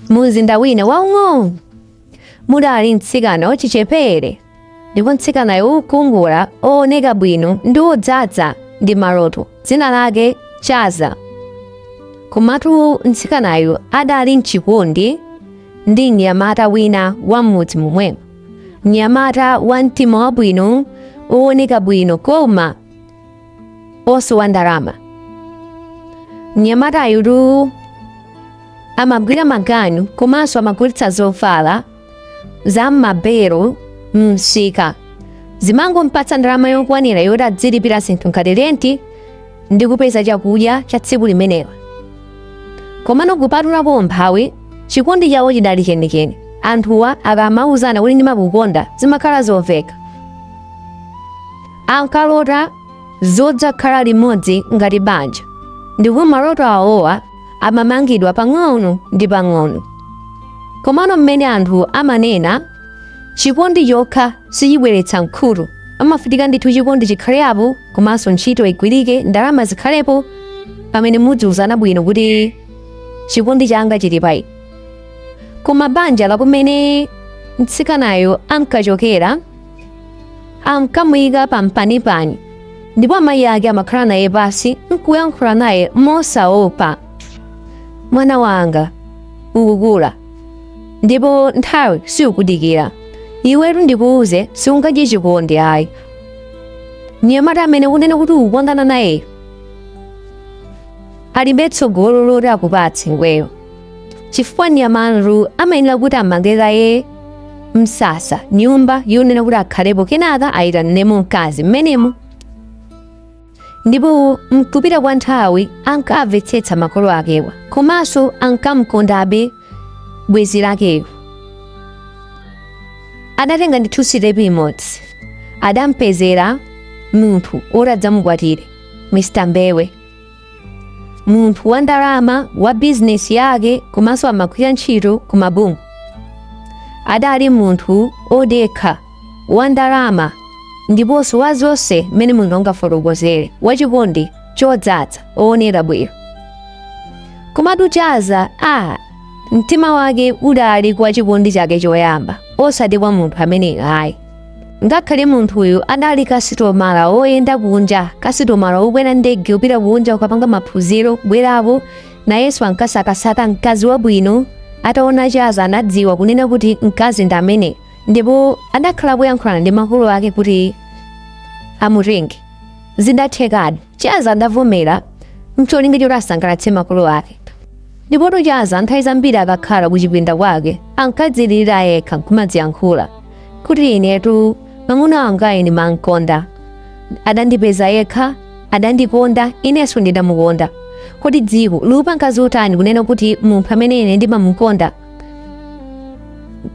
Mumzinda wina waung'ono mudali mtsikana wachichepere, ndipo mtsikanayo wokongola, wooneka bwino ndi wodzaza ndi maloto, dzina lake Chaza. Komatu mtsikanayu adali m'chikondi ndi mnyamata wina wa m'mudzi momwemo, mnyamata wa mtima wabwino, wooneka bwino koma osowa ndalama mnyamatayutu amagwira maganyu komanso amagulitsa zovala za m'mabero msika zimangompatsa ndalama yokwanira yoti adzilipira zinthu ngati renti ndi kupeza chakudya cha tsiku limenelo komano kupatulapo umphawi chikondi chawo chidali chenicheni anthuwa akamauzana kuti ndimakukonda zimakhala zoveka Ankalota zodzakhala limodzi ngati banja, ndipo maloto awowa amamangidwa pang'ono ndi pang'ono. Komano mmene anthu amanena, chikondi chokha sichibweretsa mkhuto. Pamafunika ndithu chikondi chikhalepo, komanso ntchito igwirike, ndalama zikhalepo, pamene mudziwuzana bwino kuti chikondi changa chili pa inu. Koma banja la kumene mtsikanayo ankachokera ankamuyika pampanipani ndipo amayi ake amakhala naye pansi nkuyankhula naye mosaopa mwana wanga ukukula ndipo nthawi siukudikira iwetu ndikuuze siungadye chikondi ayi mnyamata amene ukunena kuti ukukondana nayeyo alibe tsogolo loti akupatse iweyo chifukwa mnyamata amayenera kuti amange kaye msasa nyumba yonena kuti akhalepo kenaka ayitaniremo mkazi mmenemo ndipo mkupita kwa nthawi ankamvetsetsa makolo akewa komanso ankamkondabe bwenzi lakeyo adatenga ndithu sitepi imodzi adampezera munthu oti adzamukwatire mr mbewe munthu wa ndalama wa bizinesi yake komanso amagwira ntchito ku mabungwe adali munthu odekha wa ndalama ndiponso wa zonse mmene munthu angafotokozere wachikondi chodzaza owonera bwino komatu chaza mtima wake udali kwa chikondi chake choyamba osati kwa munthu amene ayi ngakhale munthuyu adali kasitomala woyenda kunja kasitomala wokwera ndege kupita kunja kukapanga maphunziro kubwerako nayenso ankasakasaka mkazi wabwino ataona chaza anadziwa kunena kuti mkazi ndi amene ndipo adakhala kuyankhulana ndi makolo ake kuti amutenge zidathekadi Chaza adavomera mcholinga choti asangalatse makolo ake ndipotu Chaza nthawi zambiri akakhala kuchipinda kwake ankadzilira yekha nkumadziyankhula kuti inetu mwamuna wanga ine ndimamkonda adandipeza yekha adandikonda inenso ndidamukonda kodi dziko likupanga zotani kunena kuti munthu amene ine ndimamukonda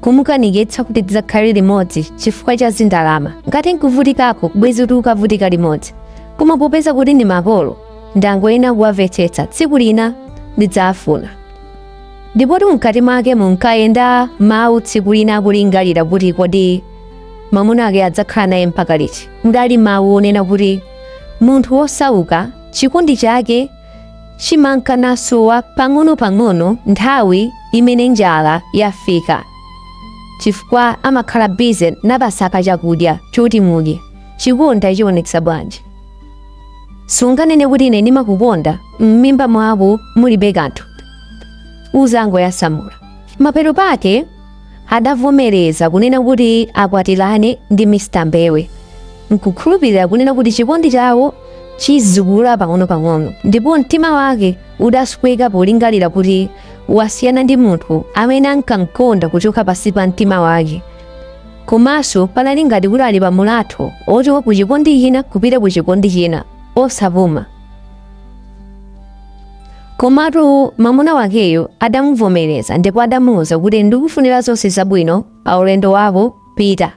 kumukanikitsa kuti tizikhala limodzi chifukwa cha zindalama ngati nkuvutikako bwezi tikukavutika limodzi koma popeza kuti ndi makolo ndangoyena kuwamvetsetsa tsiku lina ndidzafuna ndipotu mkati mwake munkayenda mawu tsiku lina akulingalira kuti kodi mwamuna ake adzakhala naye mpaka liti mudali mawu onena kuti munthu wosauka chikondi chake chimanka nasowa pang'ono-pang'ono nthawi imene njala yafika chifukwa amakhala busy nkumasaka chakudya choti mudye chikondi achionetsa bwanji sunganene kuti ine ndimakukonda m'mimba mwako mulibe kanthu uzangoyasamula mapeto pake adavomereza kunena kuti akwatirane ndi Mr. Mbewe nkukhulupirira kunena kuti chikondi chawo chizikula pang'ono-pang'ono ndipo mtima wake udasweka polingalira kuti wasiyana ndi munthu amene ankamkonda kuchoka pansi pa mtima wake komanso panali ngati kuti ali pa mulatho ochoka ku chikondi china kupita ku chikondi china osapuma Komatu mwamuna wakeyo adamuvomereza ndipo adamuwuza kuti ndikufunira zonse zabwino pa ulendo wako pita.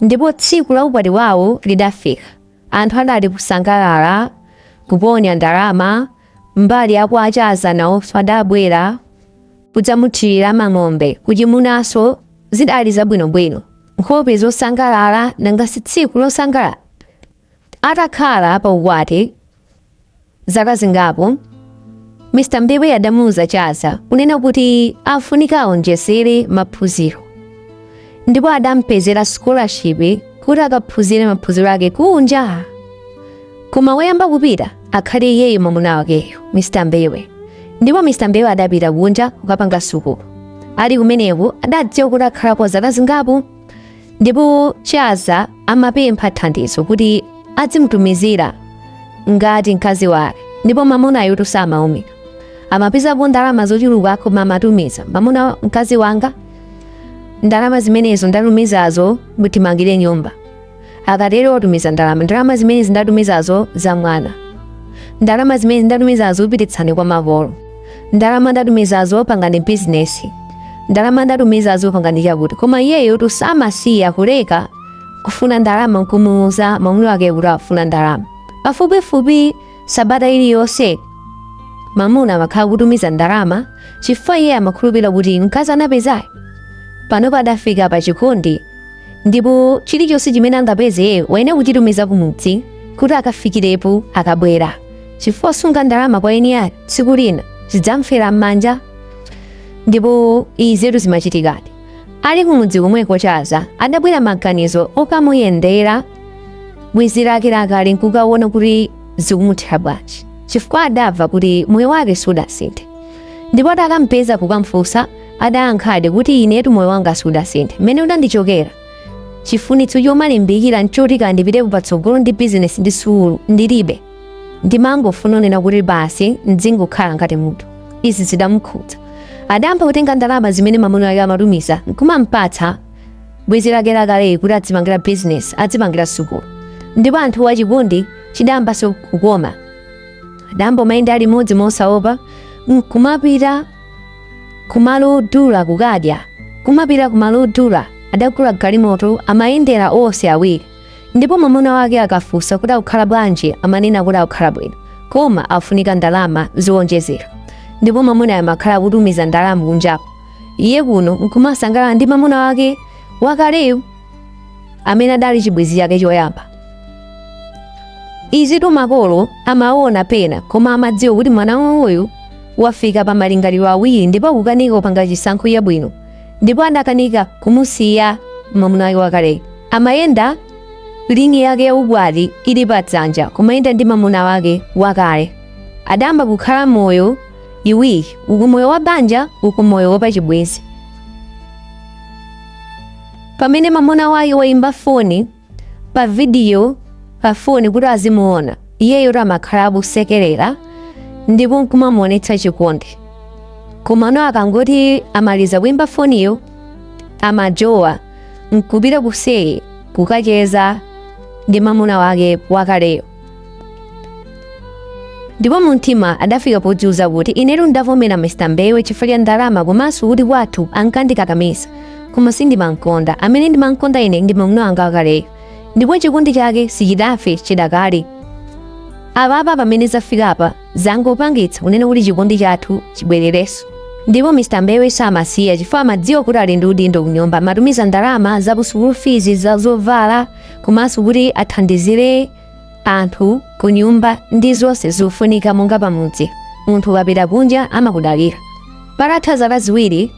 Ndipo tsiku la ukwati wawo lidafika. Anthu adali kusangalala, kuponya ndalama, mbali ya kwa a Chaza nawonso adabwera kudzamuthirira mang'ombe kuchimunanso zidali zabwinobwino. Nkhope zosangalala nanga si tsiku losangalala. Atakhala pa ukwati zaka zingapo, Mr. Mbewe adamuuza Chaza kunena kuti afunika aonjezere maphunziro ndipo adampezera scholarship kuti akaphunzire maphunziro ake kunja koma woyamba kupita akhale iyeyo mwamuna wakeyo Mr. Mbewe ndipo Mr. Mbewe adapita kunja kukapanga sukulu ali kumeneko adadziwa kuti akhalako zaka zingapo ndipo Chaza amapempha thandizo kuti adzimutumizira ngati mkazi wake ndipo mamunayo tu samaumira amapezapo ndalama zochuluka koma amatumiza mamuna mkazi wanga ndalama zimenezo ndatumizazo mutimangire nyumba akatero otumiza ndalama ndalama zimenezi ndatumizazo za mwana ndalama zimenezi ndatumizazo upititse kwa makolo ndalama ndatumizazo pangani bizinesi ndalama ndatumizazo pangani chakuti koma iyeyo tu samasiya kuleka kufuna ndalama nkumuuza mwamuna wake kuti afuna ndalama pafupifupi sabata iliyonse mamuna amakhala kutumiza ndalama chifukwa iye amakhulupirira kuti mkazi anapezayo pano padafika pa chikondi ndipo chilichonse chimene angapeze iye wayenera kuchitumiza kumudzi kuti akafikirepo akabwera chifukwa kusunga ndalama kwa eni ake tsiku lina zidzamfera m'manja ndipo izitu zimachitikadi ali kumudzi komweko chaza adabwera maganizo okamuyendera bwenzi lake lakale nkukaona kuti zikumuthera bwanji chifukwa adamva kuti moyo wake sudasinthe ndipo atakampeza kukamfunsa adayankhadi kuti inetu moyo wanga sudasinthe mmene udandichokera chifunitso chomalimbikira nchoti kandipititse patsogolo ndi bizinesi ndi sukulu ndilibe ndimangofuna kunena kuti basi mdzingokhala ngati munthu izi zidamukhudza adayamba kutenga ndalama zimene mamuna wake amatumiza nkumampatsa bwenzi lake lakaleyi kuti adzipangira bizinesi adzipangira sukulu ndipo anthuwa chikondi chidayambanso kukoma adayamba kumayenda limodzi mosaopa nkumapita kumalo odula kukadya kumapita kumalo odula adagula galimoto amayendera onse awiri ndipo mamuna wake akafunsa kuti akukhala bwanji amanena kuti akukhala bwino koma afunika ndalama zowonjezera ndipo mamuna amakhala akutumiza ndalama kunjako iye kuno nkumasangalala ndi mamuna wake wakaleyo amene adali chibwenzi chake choyamba izitu makolo amaona pena koma amadziwa kuti mwana wawoyu wafika pa malingaliro awiri ndipo akukanika kupanga chisankho chabwino ndipo anakanika kumusiya mamuna wake wakale amayenda lingi yake ya ukwati ili pa dzanja kumayenda ndi mamuna wake wakale adayamba kukhala moyo iwiri uku moyo wa banja uku moyo wapachibwenzi pamene mamuna wake wayimba foni pa vidiyo pa foni kuti azimuona iyeyotu amakhala akusekerera ndipo nkumamuonetsa chikondi komano akangoti amaliza kuimba foniyo amajowa nkupita kuseri kukacheza ndi mamuna wake wakaleyo ndipo mumtima adafika podziuza kuti inetu ndavomera mr mbewe chifukwa cha ndalama komanso kuti kwathu ankandikakamiza koma sindimamkonda amene ndimamkonda ine ndi mamuna wanga wakaleyo ndipo chikondi chake sichidafe chidakali apapa pamene zafika apa zangopangitsa kunena kuti chikondi chathu chibwererenso ndipo mr mbewe samasiya chifukwa amadziwa kuti ali ndi udindo kunyumba amatumiza ndalama za ku sukulu fizi za zovala komanso kuti athandizire anthu ku nyumba ndi zonse zofunika monga pamudzi munthu ukapita kunja amakudalira patatha zaka ziwiri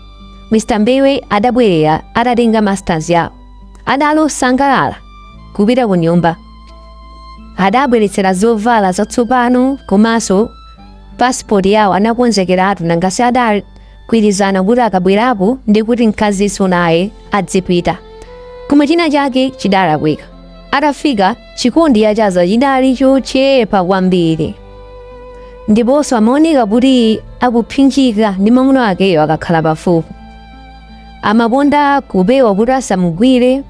mr mbewe adabwerera atatenga masters yawo adali osangalala kupita ku nyumba adabweretsera zovala zatsopano komanso pasipoti yawo anakonzekeratu nangasi adali gwirizana kuti akabwerapo ndi kuti mkazinso naye adzipita koma china chake chidalakwika atafika chikondi cha Chaza chidali chochepa kwambiri ndiponso amaoneka kuti akupsinjika ndi mwamuna wakeyo akakhala pafupi amakonda kupewa kuti asamugwire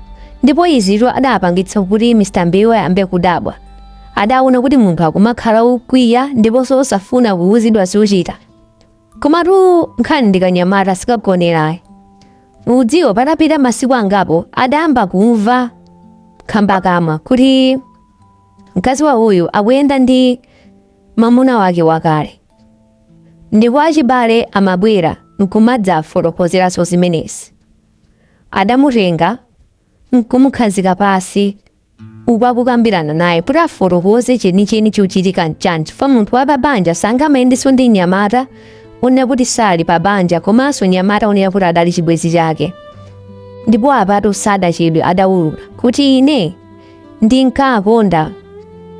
ndipo izitu adapangitsa kuti mr mbewe ayambe kudabwa adaona kuti munthu akumakhala okwiya ndiponso osafuna kuwuzidwa zochita komatu nkhani ndikanyamata sikagonera ayi mudziwo patapita masiku angapo adayamba kumva khambakamwa kuti mkazi wa uyu akuyenda ndi mamuna wake wakale ndipo achibale amabwera nkumadzafotokozeranso zimenezi adamutenga nkumukhazika pansi ukakukambirana naye kuti afotokoze chenicheni chochitika nchani chifukwa munthu wa pabanja sangamayendenso ndi mnyamata onena kuti sali pabanja komanso mnyamata onena kuti adali chibwenzi chake ndipo apatu sadachedwe adawulula kuti ine ndinkakonda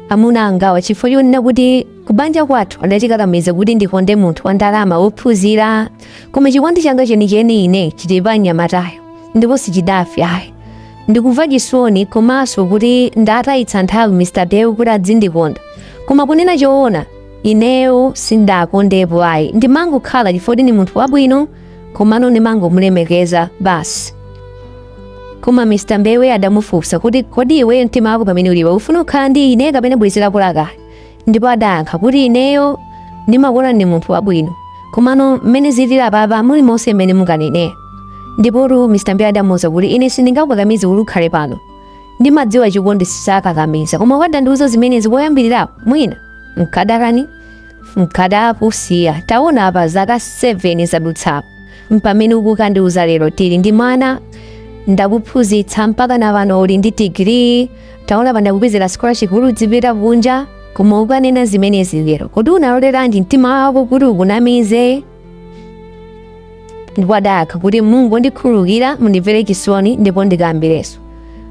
amuna angawa chifukwa chonena kuti kubanja kwathu adandikakamiza kuti ndikonde munthu wa ndalama wophunzira koma chikondi changa chenicheni ine chili pa mnyamatayo ndipo sichidafe ayi ndikumva chisoni komanso kuti ndatayitsa nthawi mr mbewe kuti adzindikonda koma kunena choona ineyo sindakondepo ayi ndimangokhala chifukwa ndi munthu wabwino komano ndimangomulemekeza basi koma mr mbewe adamufunsa kuti kodi iwe mtima wako pamene ulipa ufuna kukhala ndi ine kapena bwenzi lako lakale ndipo adayankha kuti ineyo ndimakuonani munthu wabwino komano mmene zilili apapa mulimonse mmene munganenera ndipotu mr mbewe adamuuza kuti ine sindingakukakamize kuti ukhale pano ndimadziwa chikondi sakakamiza koma ukadandiuza zimenezi poyambirirapo mwina mkadakani mkadakusiya taona apa zaka 7 zadutsapo mpamene ukukandiuza lero tili ndi mwana ndakuphunzitsa mpaka na pano uli ndi digiri taona pandakupezera scholarship kuti udzipita kunja koma ukanena zimenezi lero kodi unaloleranji mtima wako kuti ukunamize ndipo adayankha kuti mungondikhululukira mundimvere chisoni ndipo ndikayambirenso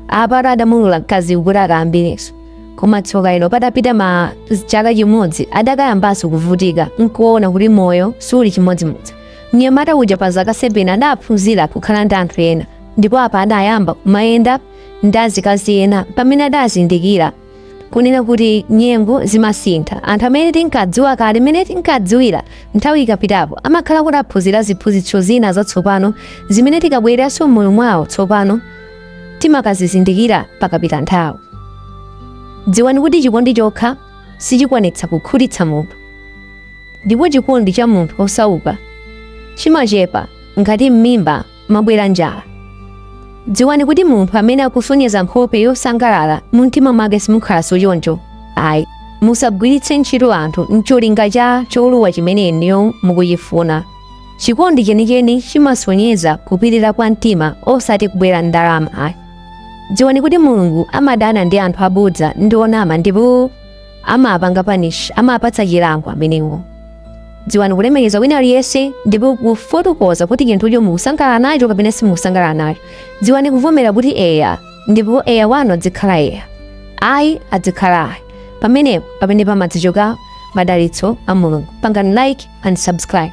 apatu adamulola mkazi kuti akayambirenso koma tsoka ilo patapita ma chaka chimodzi adakayambanso kuvutika nkuona kuti moyo suli chimodzimodzi mnyamata uja pa zaka 7 adaphunzira kukhala ndi anthu ena ndipo apa adayamba kumayenda ndi azikazi ena pamene adazindikira kunena kuti nyengo zimasintha anthu amene tinkadziwa kale mmene tinkadziwira nthawi ikapitapo amakhala kuti aphunzira ziphunzitso zina zatsopano zimene tikabwereranso m'moyo mwawo tsopano timakazizindikira pakapita nthawi dziwani kuti chikondi chokha sichikwanitsa kukhutitsa munthu ndipo chikondi cha munthu osauka chimachepa ngati m'mimba mwabwera njala. Dziwani kuti munthu amene akusonyeza nkhope yosangalala mumtima mwake simukhalanso choncho. Ayi, musagwiritse ntchito anthu n'cholinga cha cholowa chimene inuyo mukuchifuna. Chikondi chenicheni chimasonyeza kupirira kwa mtima osati kubwera n'ndalama ayi. Dziwani kuti Mulungu amadana ndi anthu abodza ndi onama ndipo amapanga punish amapatsa chilango amenewo dziwani kulemekeza wina aliyense ndipo kufotokoza kuti chinthucho mukusangalala nacho kapena simukusangalala nacho dziwani kuvomera kuti eya ndipo eya wanu adzikhala eya ayi adzikhala ayi pamenepo pamene pamadzichoka madalitso a mulungu pangani like and subscribe